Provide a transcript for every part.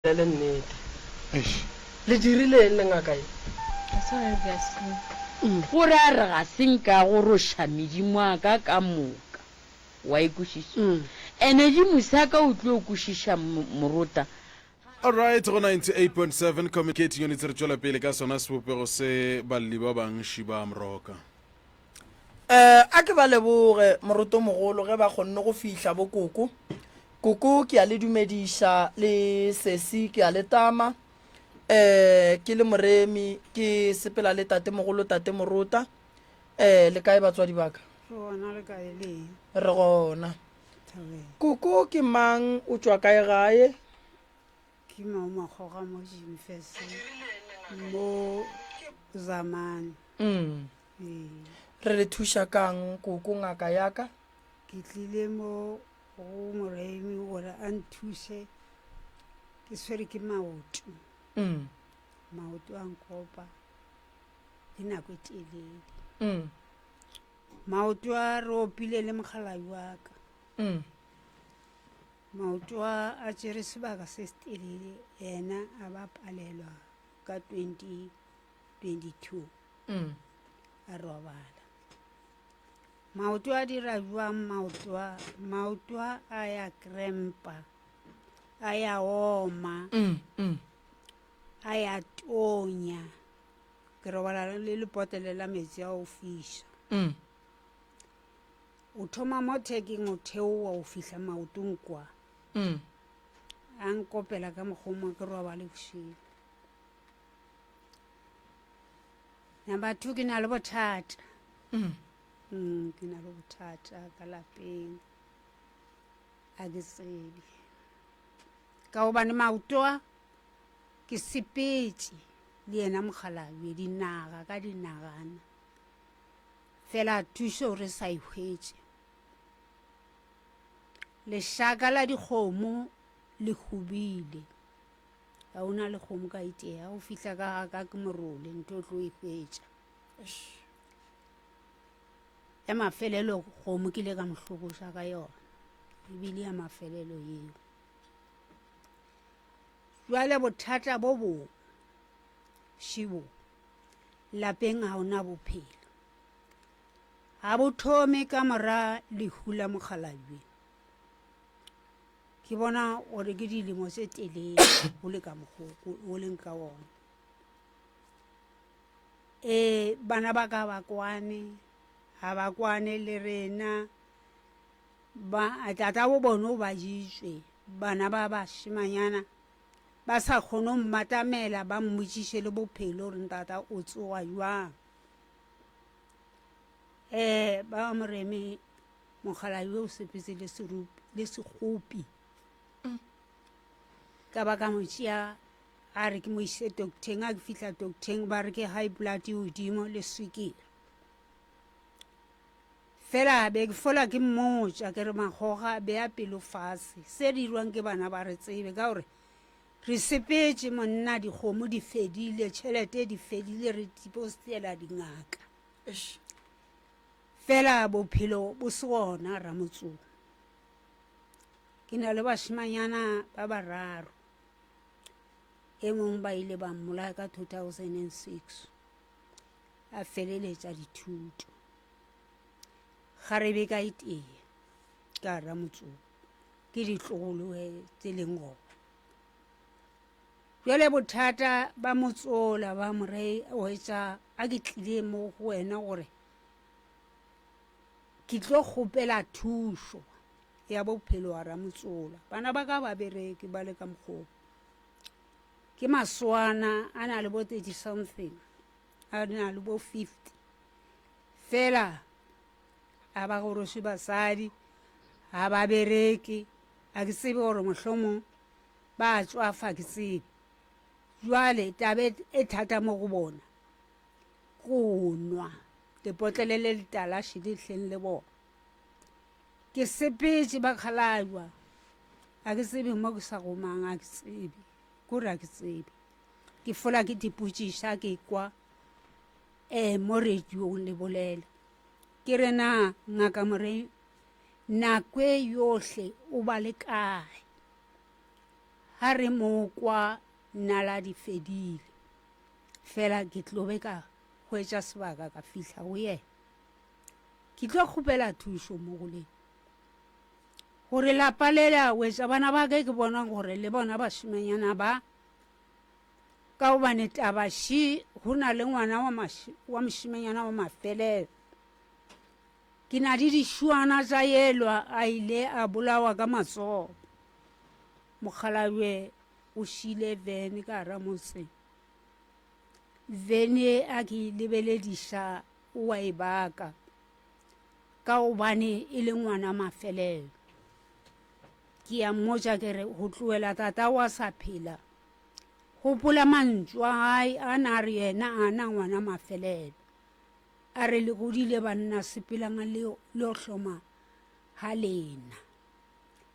Bolele nnete. Eish. Le dirile eng le ngaka ye? Ga se gare ke a senka. Gore a re ga se nka goroša medimo a ka ka moka. O a e kwešiša? Ene di mosa ka o tlo kwešiša morota. Alright, go 98.7 Communicating Units re tšwela pele ka sona sebopego se balli ba bangši ba Amroka. Eh, a ke ba leboge moroto mogolo ge ba kgonne go fihla bo koko koko ke a le dumediša le sesi ke a le tama eh ke le moremi ke sepela le tate mogolo tate morota eh le kae batswadi baka gona le kae le re gona thabeng koko ke mang o tšwa kae gae ke mao makgoga mo jimfese mo zamane mm. re le thuša kang koko ngaka yaka ke tlile mo go moraimi gore a nthuse ke swere ke maoto mm. maoto a nkopa le nako e telele mm. maoto a re opile le mogalabi wa ka mm. maoto a a tsere sebaka se se telele ena a ba palelwa ka 20 22 a robala maoto a dira jwang maoto a ya krempa a ya oma a ya tonya ke robala le lepotele la metsi a o fisa o thoma mo thekeng o theowa o fihla maotong kwa a nkopela ka mokgoma ke robale boshigo number two ke na le bothata mm. Mm, ke na le bothata ka lapeng a ke tsebe ka gobane maotoa ke sepetse le yena mokgalabje dinaga ka dinagana fela thuso re sa ihwetse lešaka la dikgomo le hubile ga o na le kgomo ka itee ga o fihla ka ga ka ke morole nto o tlo e hwetša ya mafelelo kgomo ke ile ka mohlokoša ka yona ebile ya mafelelo eo jwale bothata bo bo šibo lapeng ga ona bophelo ga bo thome ka mora lehu la mokgalajwe ke bona gore ke dilemo tse telele go le ka mokgoko o leng ka one um bana ba ka ba kwane ga ba kwane le rena ba tata bo bone o ba jitswe bana ba bashimanyana ba sa kgone go mmatamela ba mmotsiše le bophelo gore ntata o tsoga jwang um ba moreme Mogala yo o sepetse le serupi le segopi. Ka ba ka mo tšea a re ke mo ise docteng a ke fihla docteng ba re ke high blood e godimo le swikile. Fela be ke fola ke mmotša ke re magoga be a pelo fatshe se dirwang ke bana ba re tsebe ka gore re sepetse monna dikgomo di fedile tšhelete di fedile re dipostela dingaka. Fela bophelo bo se gona, Ramotsoko. Ke na le bašemanyana ba bararo, e mong ba ile ba mmolaya ka 2006, a feleletša dithuto. Ga re be ka iteye ka Ramotsoko, ke ditlogoloe tse leng gona. Bjale bothata ba motsola ba mo re, Oetša a ke tlile mo go wena gore ke tlo kgopela thušo ya bophelo wa Ramotsola. Bana ba ka ba bereke ba le ka mokgo ke maswana a na le bo thirty something a na le bo fifty fela a ba goroše basadi ha ba bereke a ke tsebe gore mohlomong ba tswafa ke tsebe jwale tabe e thata mo go bona. go nwa lepotlele le letalaši le hleng le bona ke sepetse ba kgalajwa ga ke tsebe mo ke sa gomang a ke tsebe kore a ke tsebe ke fola ke dipotsiša ke kwa um mo radiong le bolela ke re na ngaka morei nako e yohle o ba le kae ga re mo kwa naladi fedile. Fela ke tlo be ka hwetša sebaka ka fihla go yena. Ke tlo kgopela thušo mo go lena, gore lapa le la wetša bana ba ke ke bona gore le bona bašemanyana ba, ka gobane taba še go na le ngwana wa, wa mošemanyana wa mafelelo. Ke na le dišuana tša elwa a ile a bolawa ka matsogo. Mokgalabje o šile Vern ka gare motse. vene a ke lebelediša o a e baka ka gobane e le ngwana mafelelo ke ya mmotša ke re go tloela tata wa sa phela gopola mantšu a gae a na a re yena a na ngwana mafelelo a re le godile banna sepelang le yo hloma ga lena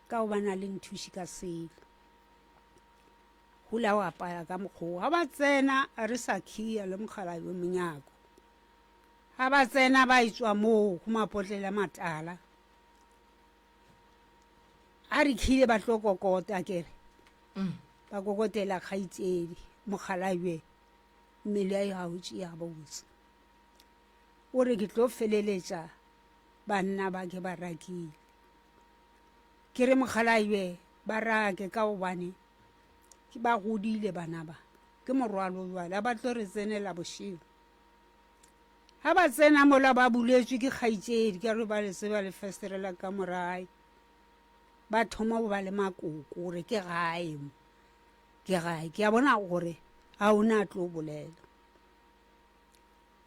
ka gobane a le nthuši ka selo Hula o apaya ka mokgoo. Ha ba tsena re sa khiya le mogala yo monyako. Ha ba tsena ba etswa moo go mapotlele matala. A re khile ba tlo kokota kere. Mm. Ba kokotela kgaitsedi mogala ywe. Mmele ya ho tšea botse. O re ke tlo feleletsa banna ba ke ba rakile. Ke re mogala ywe ba rake ka hobane Ke ba godile bana ba. Ke morwalo jwale. Ha ba tlo re tsenela bošego. Ha ba tsena mola ba buletswe ke kgaitsedi ka re ba le tseba le festerela ka morae. Ba thoma go ba le makoko gore ke gae mo. Ke gae. Ke a bona gore a o na tlo bolela.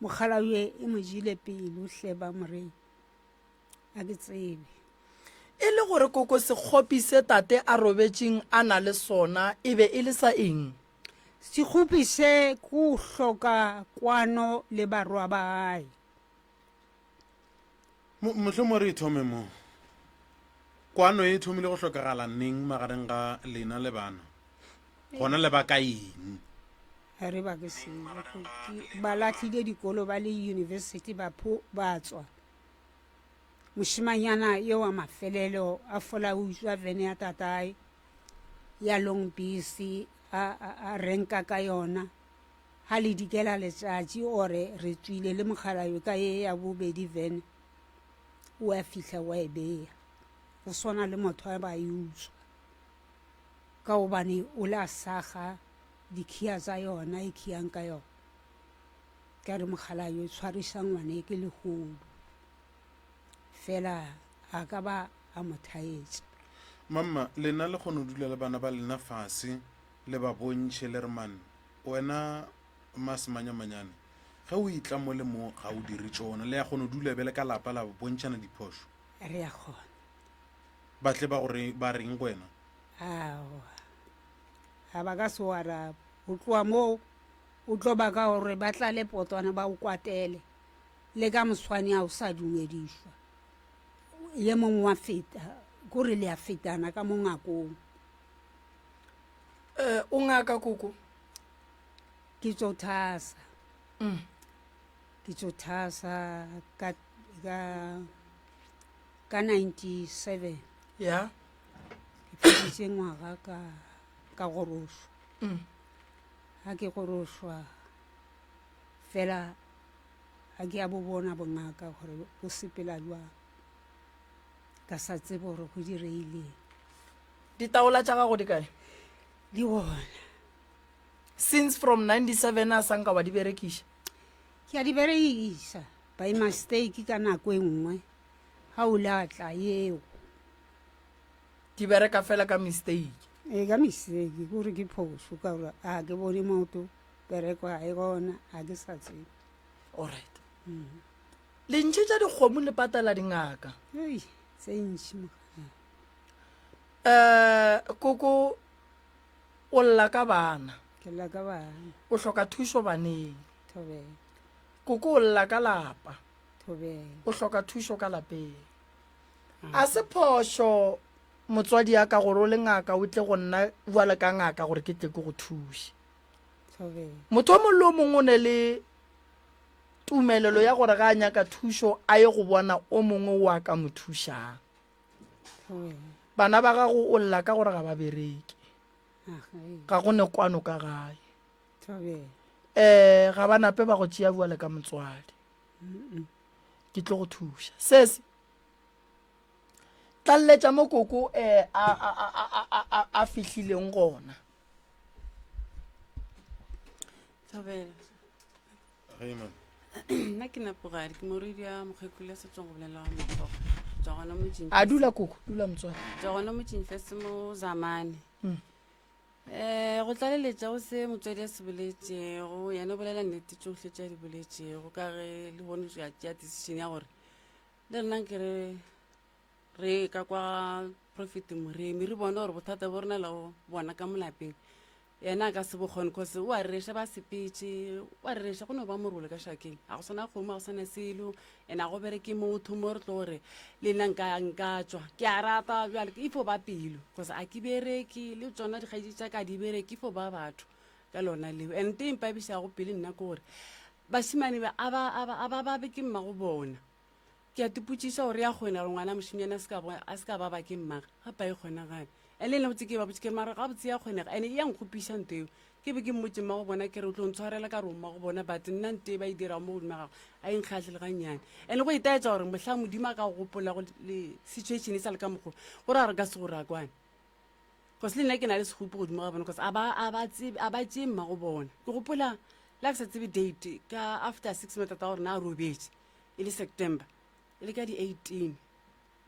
Mogala yo e mo jile pelo hle ba morena. Ga ke tsebe. E le gore koko sekgopi se tate a robetšeng a na le sona e be e le sa eng? Sekgopi se go hloka kwano le barwa ba gae. Mo, mohlomongwe re e thome mo. Kwano e thomile go hlokagala neng magareng ga lena le bana? Gona le ba ka eng? Ga re ba ke selo. Ke- Ba lahlile dikolo ba le yunibesithi ba pho ba tswa. Mošemanyana yo wa mafelelo a fola o utswa vene ya tatae ya long bisi a, a, a renka ka yona ha le dikela letšatši ore re tswile le mogalayo ka ye ya bobedi vene o a fihla wa e beya go swana le motho a ba e utswa ka gobane o le a saga dikhiya tsa yona e khiyang ka yona Ka re mokgalaa yo tshwarisa ngwane ke lehodu fela a ka ba a mo thaetsa. Mamma, lena le kgono dula le bana ba lena fase le ba bontšhe le re man wena ma Semanyamanyane ge o etla mo le mo ga o dire tšona. Le ya kgono dula bjale ka lapa la bontšhana diphošo. Re ya kgona. Ba tle ba go re ba reng go wena? Aowa, ga ba ka se o araba. Go tloga moo O tlo baka gore ba tlale potwana ba o kwatele, le ka moswane a o sa dumedišwa. Ye mongwe wa feta, ko re le a fetana ka mo ngakong. Eh, o ngaka koko? Ke tso thasa. Mm. Ke tso thasa ka ka ka 97. Yeah. Ke feditse ngwaga ka ka gorošo. Mm. Ha ke gorošwa fela ga ke a bo bona bongaka gore bo sepela jwang ka sa tsebe gore go direileng ditaola tša gago di kae di gona since from 97 a sanka wa di berekiša ke a di berekiša by mistake ka nako e nngwe ga o latla yeo di bereka fela ka mistake e ka mistake gore ke phoso ka gore a ke bone moto bereko ga e gona ga ke sa tsebe allright mm. lentšhe tša dikgomo le patala dingaka tse ntši um eh, koko o lla ka bana o hloka thušo baneng koko o lla ka lapa o hloka thušo ka lapeng a se phošo motswadi ya ka gore o le ngaka o tle go nna bjale ka ngaka gore ke tle ke go thuse motho o mongwe le o mongwe o ne le tumelelo ya gore ga a nyaka thušo a ye go bona o mongwe o a ka mo thušang bana ba gago o lla ka gore ga ba bereke ga go ne kwano ka gae um ga ba nape ba go tšea bjale ka motswadi ke tlo go thuša sese tlalletša mo koko um a fihlileng gona nna ke napogadi ke moredi ya mokgekolo ya setswang go bolela wa mokgogo tswa gona motseng a dula koko dula motswana tswa gona motseng fa se mo zamane um go tlaleletša o se motswadi ya se boletšego yena o bolela nnete tsohle tša di boletšego ka ge le bone ya tšea decision ya gore le nna ke re re ka kwa profit moremi re bone gore bothata bo rena le bona ka molapeng yena a ka se bokgone cause o a rereša ba sepetse o a rereša go ne ba morole ka šakeng ga go sana kgomo ga go sana selo and a go bereke motho mo re tlo gore le nna nka nka tswa ke a rata bjale ke ifo ba pelo cause a ke bereke le tsona dikgaetši tša ka di bereke ifo ba batho ka lona leo and te mpabišago pele nna ke gore Bašemane ba a ba a ba a ba babe ke mmago bona. Ke a tipotšiša gore ya kgona gore ngwana mošemyane a se ka bo- a se ka ba ba ke mmage ga pae kgonagale. Ene nna botse ke ba botše ke re mara gabotse ya kgonega ene e ya nkgopiša nto eo. Ke be ke mmotše mmago bona ke re o tlo ntshwarela ka re o mmago bona but nna nto e ba e dirago mo godimo ga gago a e nkgahle le ga nnyane. Ene go itaetša gore mohlang Modimo a ka go gopolago le situation e sa le ka mokgwa o, go ra gore ka se go rakwane. cause le nna ke na le segopo godimo ga bona cause a ba- a ba tsebe- a ba tšee mma go bona ke gopola le a ke sa tsebe date ka after six months tata gore na a robetše e le september e le ka di-eighteen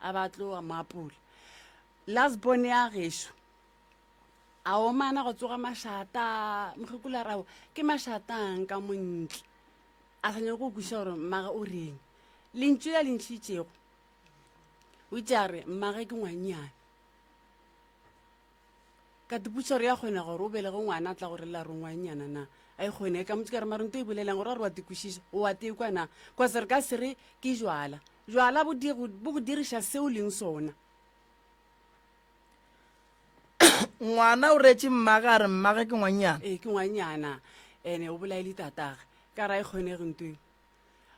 a ba tlo a mo apola last born ya gešo a omana go tsoga mašata mokgekolo a rabo ke mašatang ka montle a sa nyako go kwešiša gore mmage o reng lentšu la le ntšhitšego o itše a re mmage ke ngwanyana ka diputsa gore ya kgona gore o belege ngwana a tla gore la rongwanyana na a e kgone e ka motse ka re maronto e bolelang gore a re wa tekwešiša o wa tekwa na kwa se re ka se re ke jwala jwala bo di- go bo go diriša se o leng sona ngwana o reetse mmage a re mmage ke ngwanyana ee ke ngwanyana ene o bolaele tatagwe ka ra e kgonege nto eo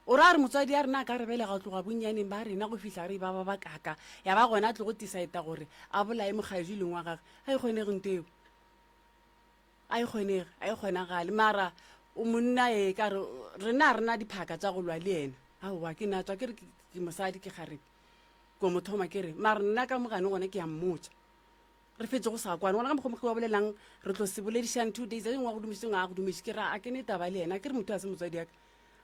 O ra gore motswadi a rena a ka re belega go tloga bonnyaneng ba rena go fihla re e ba ba ba kaka, ya ba gona a tlo go tisaeta gore a bolaye mokgaedi leng wa gage. Ga e kgonege nto eo. Ga e kgonege, ga e kgonagale. Mara o monna ee, ka re rena ga rena diphaka tša go lwa le ena. Aowa, ke natswa ke re ke mosadi ke kgarebe ko mo thoma ke re mara nna ka mogane gona ke a mmotša. re fetse go sa kwane gona ka mokgwa mokgwa wa bolelang re tlo se boledišang two days a dingwe wa go dumiseng a go dumiše ke ra a ke ne taba le yena ke re motho a se motswadi yaka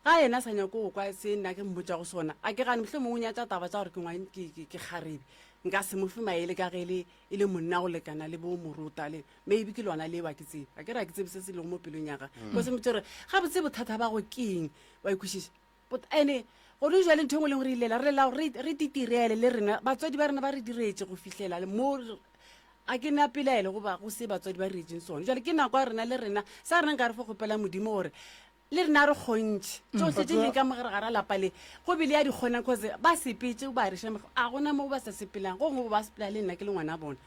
ga yena a sa nyako go kwa se nna ke mmotsa go sona a ke gane motlho mongwe nyatsa taba tsa gore ke ngwa- ke- ke- ke kgarebe nka se mo fe maele ka ge le e le monna go lekana le bo morota le maybe ke lona leo a ke tsebe a ke re a ke tsebe se se lego mo pelong ya ga ko se motse gore ga botse bothata ba go keng wa ikwešiša But ene gone jwale ntho engwe e leng gore e lela re lela gore re titirele le rena batswadi ba rena ba re diretse go fitlhela le mo a ke na pelaelo goba go se batswadi ba retseng sone jale ke nako ya rena le rena sa rena nka re fo kgopela modimo gore le rena re kgontšhe mm. tsotlhe tse leng ka mogare ga ra lapa le go bele ya di kgonang cause ba sepetse ba rešamego a gona mo ba sa sepelang go ngwe ba sepela le nna ke le ngwana bone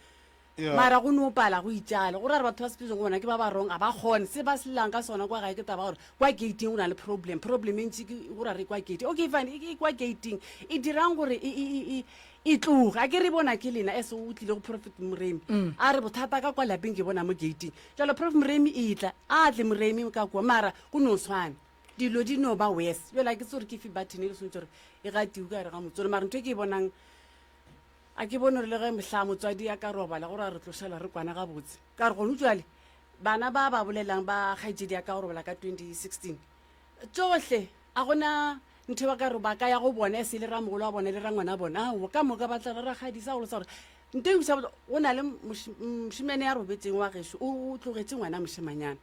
Yeah. mara go no pala go itšale go ra re batho ba sepetsong go bona ke ba ba rong a ba kgone se ba selelang ka sona kwa gae ke taba gore kwa gating go na le problem problem e ntši ke go ra re kwa gating okay fine e- e kwa gating e dirang gore e- e- e- e- e tloge a ke re bona ke lena as o tlile go profit moremi a re bothata ka kwa lapeng ke bona mo gating jalo prof moremi e tla a tle moremi ka kua mara go no tshwana dilo di no ba wes jale a ke tse gore ke fe button e le swantse gore e gatiwe ka gare ga motsone mara ntho e ke e bonang A ke bone gore le ge mohla motswadi a ka robala gore a re tlošela re kwana gabotse. Ka re, Gonu bjale, bana ba ba bolelang ba kgaetšedi ya ka go robala ka 2016, tšohle, a go na ntho e ba ka re ba ka ya go bona e se le ramogolo wa bona le rangwana wa bona. Aowa, ka moka ba tla ra rakgadi. Sa go losa gore nto e buša botse, go na le moš, mošemane ya robetšeng wa gešo, o, o tlogetše ngwana mošemanyana.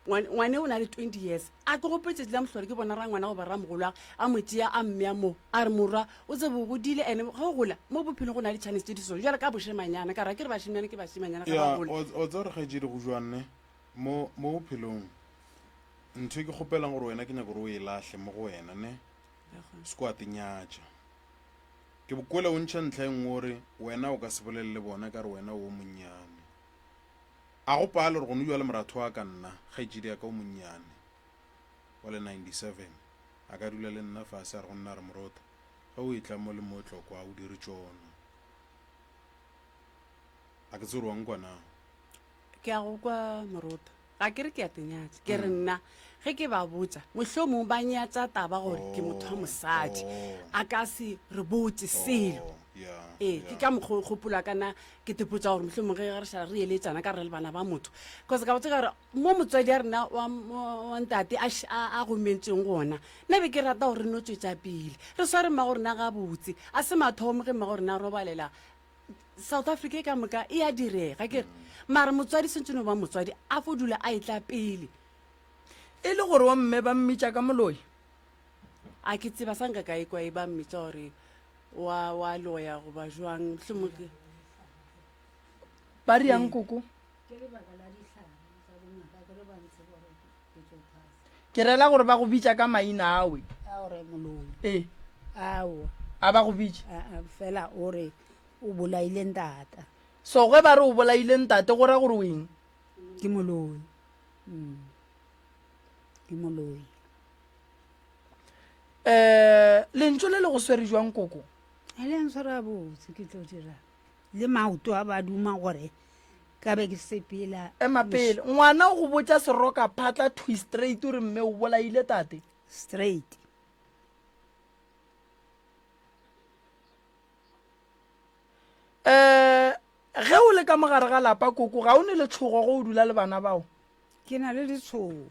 ngwane o na le twenty years a ke gope tšatši la mohlolo ke bona ra ngwana goba ra mogolwa a mo tšea a mmea moo a re morwa o tsebo o godile ande ge o gola mo bophelong go na le chance tse di so jale ka bošemanyana ka ra ke re bašemanyana ke bašemanyana ga ba gola o tsa gore kgaetšedi go jwanne mo bophelong ntho e ke kgopelang gore wena ke nyako gore o e lahle mo go wena ne se ko atenyatša ke bokole o ntšha ntlha e nngwe gore wena o ka se bolelele bona ka re wena o monnyane A go pale gore go no bjale moratho wa ka nna, kgaetšedi ya ka o monnyane wa le 97, a ka dula le nna fase a re go nna a re, Morota, ge o etla mo le mo tlo kwa o dire tšono? A ke tsebe gore wa nkwa na? Ke a go kwa, Morota. Ga ke re ke a te nyatša. Ke re nna, ge ke ba botša, mohlomong ba nyatša taba gore ke motho wa mosadi. Oh. A ka se re botše selo. Oh, ya, Ee, ke ya. ka mokgwa o gopola ka na ke tepotsa gore mohlomong ge re šala re eletsana ka re le bana ba motho cause ka botse ka gore mo motswadi a rena wa ntate a gomentsweng gona nna be ke rata gore re no tswetsa pele re sware mmago rena gabotse a se mathomo ge mmago rena robalela south africa e ka moka e a direga ke re mare motswadi sentse no ba motswadi a fo dula a e tla pele e le gore wa mme ba mmitša ka moloi A ke tseba sa nka ka ekwa e ba mmitsa gore wa wa loya goba jwang mohlomong ke ba riang koko ke rela gore ba go bitša ka maina awe ee a ba go bitša fela o re o bolaile ntata so ge ba re o bolaile ntate go ra gore o eng ke moloi mm. ke moloi um lentso le le go swere jwang koko e le ntshwara botse ke tlo dira le maoto a ba duma gore ka be ke sepela ema pele ngwana o go botsa seroka phatla twi straight o re mme o bolaile tate straight um ge o le ka mogare ga lapa koko ga o ne letshogo go o dula le bana bao ke na le letshogo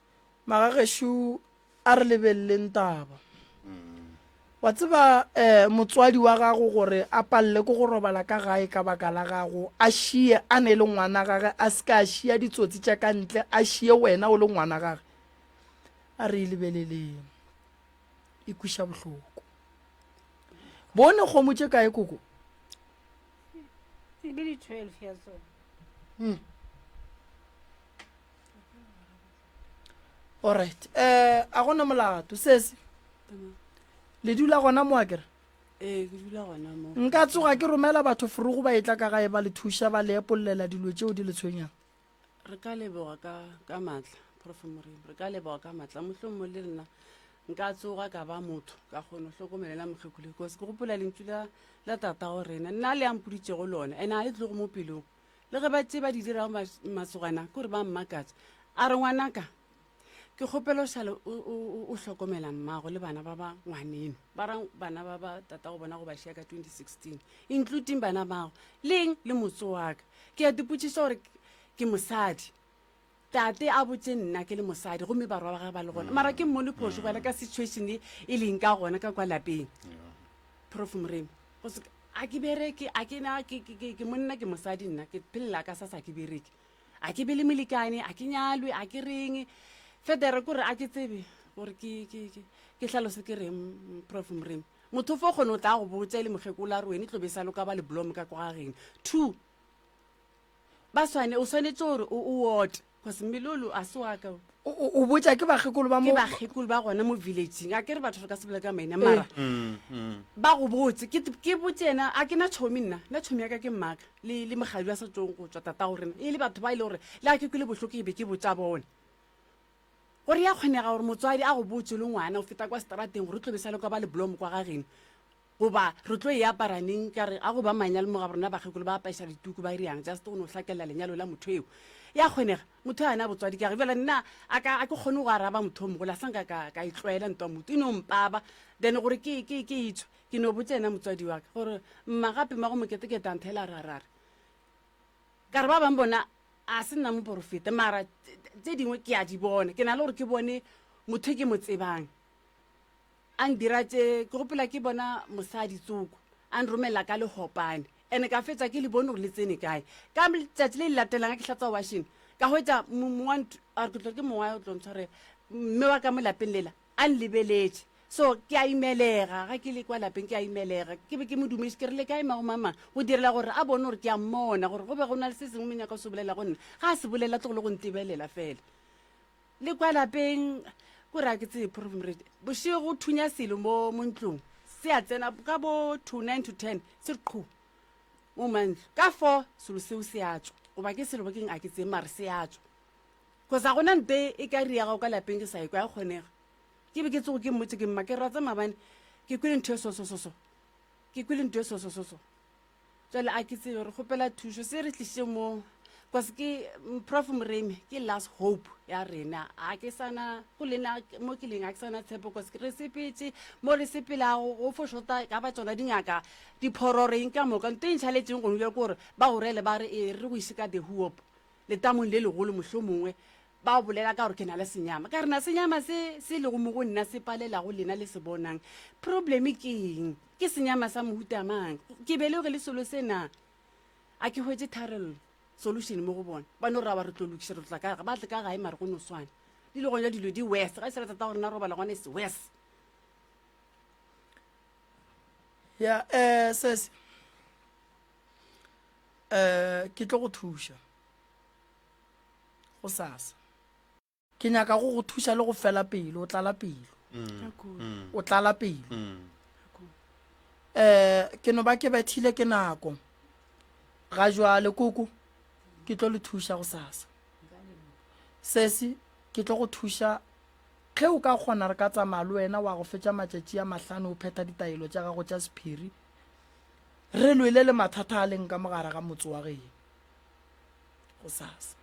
magagešo a re lebeleleng taba wa tseba um motswadi wa gago gore a palele ko go robala ka gae ka baka la gago a šie a ne e le ngwana gage a se ka a šia ditsotsi tša ka ntle a šie wena o le ngwana gage a re e lebeleleng e kwiša bohloko bone kgomo tše kae koko hmm. alright um a gona molato sese le dula gona mo a kere ee ke dula gona mo nka tsoga ke romela batho forogo ba etla ka gae ba le thuša ba le epolelela dilo tšeo di le tshwenyang re ka leboga ka ka matla profe morimo re ka leboga ka matla mohlong mo le rena nka tsoga ka ba motho ka kgone go hlokomelela mokgekule kose ke gopola lentšu la la tata go rena nna le ampoditšego lone ene a le tlogo mo pelong le ge ba tše ba di dirago masogana kore ba mmakatsa a re ngwanaka ke kgopela o šale o hlokomela mmago le bana ba ba ngwaneno ba ra bana ba ba tata go bona go ba šea ka 2016 including bana bago leng le motse waka ke ya dipotšiso gore ke mosadi Tate a botše nna ke le mosadi gomme barwa ba gage ba le gona mara ke mmone phošo bjale ka situation e e leng ka gona ka kwa lapeng prof moremi go se a ke bereke a ke na ke- ke- ke- ke monna ke mosadi nna ke phelela ka sa sa ke bereke a ke be le molekane a ke nyalwe a ke reng federe kore a ke tsebe gore ke- ke ke- ke hlalose ke reng mm, prof moremi motho fo kgone o tla go botša e le mokgekolo a re wene tlo be sa loka ba le blom ka kwa gageno two ba swane o swanetse gore o o ote cause melolo a se wa ka o. o o- o botša ke bakgekolo ba ke mo bakgekolo ba gona mo villageng a kere batho re ka se bola ka maina mara Mm, mm. ba go botse ke t- ke botse ena a ke na tšhomi nna nna tšhomi ya ka ke mmaka le le mogadi wa sa tsong go tswa tata go rena e le batho ba e le gore le ga ke kwele bohloko e be ke botsa bone gore ya kgonega gore motswadi a go botse le ngwana o feta kwa seterateng gore o tlobe sa le kwa ba leblomo kwa gageno goba re tlo e apara neng ka re a go ba manyalo mo ga borena bakgekolo ba apaisa dituku ba riang just go no hlakelela lenyalo la motho eo ya kgonega motho a na botswadi ka re bjale nna a ka a ke kgone go araba motho o mogolo a sanka ka ka e tlwaela ntwa motho e no mpaba then gore ke ke ke itsho ke no botse ena motswadi wa ka gore mma gape ma go moketekete a nthela ra ra re ka re ba bang bona a se nna moporofeta mara tse dingwe ke a di bona ke na le gore ke bone motho e ke mo tsebang A ndira tše ke gopela ke bona mosadi tsoko a nromela ka lehopane ene ka fetša ke le bone gore le tsene kae ka tšatši le le latelang ke hlatswa washing ka hwetša mongwanthu a re ke tlo ke mongwa o tlo ntshwarela mme wa ka mo lapeng lela a nlebeletše so ke a imelega ga ke le kwa lapeng ke a imelega ke be ke mo dumešitše ke re le kae mago mama go direla gore a bone gore ke a mmona gore go be go na le se sengwe mo nyaka o se bolela go nna ga a se bolela tlogolo go ntebelela fela le kwa lapeng ko ra ke tsee prof moredi bošego go thunya selo mo mo ntlong se a tsena ka bo two nine to ten se re qhu mo mantlo ka four selo seo se a tswa goba ke selo bakeng a ke tsee mare se a tswa kosa gona mpe e ka ri ya gago ka lapeng ke sa e kwa ya kgonega ke be ke tsogo ke mmotse ke mma ke ratsa mabane ke kwele ntho e sosososo ke kwele ntho e sosososo jale a ke tsebe re kgopela thušo se re tliše mo bcause ke prof moremi ke last hope ya rena a ke sana go lena mo ke leng a ke sana tshepo bcause re sepetse mo re sepelago go fo shota ka ba tsona dingaka diphororeng ka moka nto e ntšhaletseng gongwe bja kore ba gorele ba re e re go ise ka the hoop letamong le legolo mohlomongwe Ba o bolela ka gore ke na le senyama. Ka re na senyama se se lego mo go nna se palelago lena le se bonang. Probleme ke eng? Ke senyama sa mohuta mang? Ke beleoge le selo se na? A ke hwetše tharello, solution mo go bona. Ba no raba re tlo lokiša, re tla ka ga ba tle ka gae mare go no swana. Di le gona dilo di worse. Ga e se ra tata gore na robala gona is worse. ya um sese um ke tlo go thuša go sasa ke nyaka go go thuša le go fela pelo o tlala pelo o tlala pelo um ke no ba ke bethile ke nako ga jwale koko ke tlo le thuša go sasa sesi ke tlo go thuša ge o ka kgona re ka tsamaya le wena wa go fetša matšatši a mahlano o phetha ditaelo tša gago tša sephiri re lwele le mathata a leng ka mogare ga motse wa geno gosasa.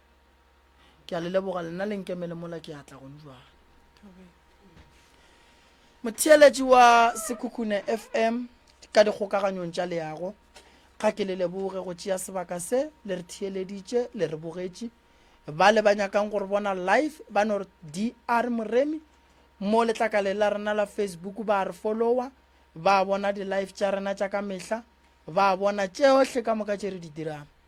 Ke a le leboga, lena le nkemele mola ke atla gong jwale. Motheeletši wa Sekhukhune FM ka dikgokaganyong tša leago, ga ke le leboge go tšea sebaka se le re theeleditše, le re bogetše. Ba le ba nyakang gore bona live ba no re DR Moremi mo letlakaleng la rena la Facebook ba re follower, ba bona di-live tša rena tša ka mehla, ba bona tšeohle ka moka tše re di dirang.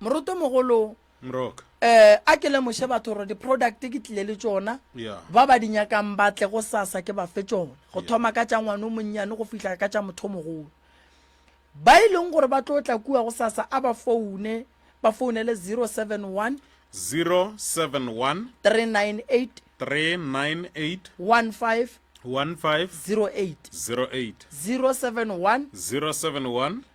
moroto mogolo mrok eh a ke lemoše batho gore di-product ke tlile le tsona yeah. ba ba di nyakang ba tle go sasa ke ba fe tsona go Yeah. thoma ka tša ngwane o monnyane go fihla ka tša motho o mogolo ba e leng gore ba tlo tla kua go sasa a ba foune ba founele 071 071 398 398 15 15 08 08 071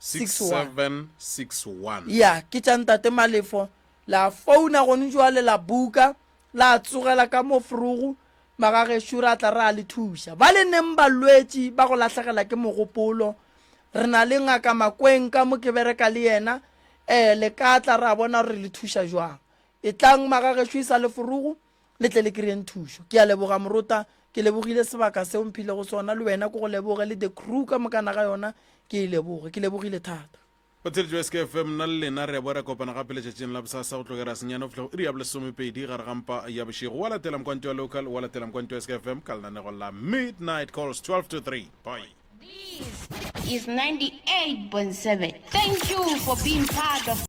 6761. Ya, ke tša Ntate Malefo. La founa gone joale la buka, la tsogela ka mo frogo, magagešo ra tla ra le thuša. Bale neng balwetši ba go lahlegela ke mogopolo, re na le Ngaka Makweng ka mo ke bereka le yena, ee, le ka tla ra bona gore re le thuša jwang. Etlang, magagešo, e sa le forogo. le tle le kry-eng thušo ke a leboga morota ke lebogile sebaka seo mphile go sona le wena ko go leboge le the crew ka mokana ga yona ke e leboge ke lebogile thata o theletšo ya skf mna le lena re a boa re kopana gape letšatšing la bosasa go tlogera senyane go fihla go iri ya bolesomepedi gare ga mpa ya bošego wa latela mokwanto ya local wa latela mokwanto ya skfm ka lenanego la midnight calls 12 to 3 bye This is 98.7. Thank you for being part of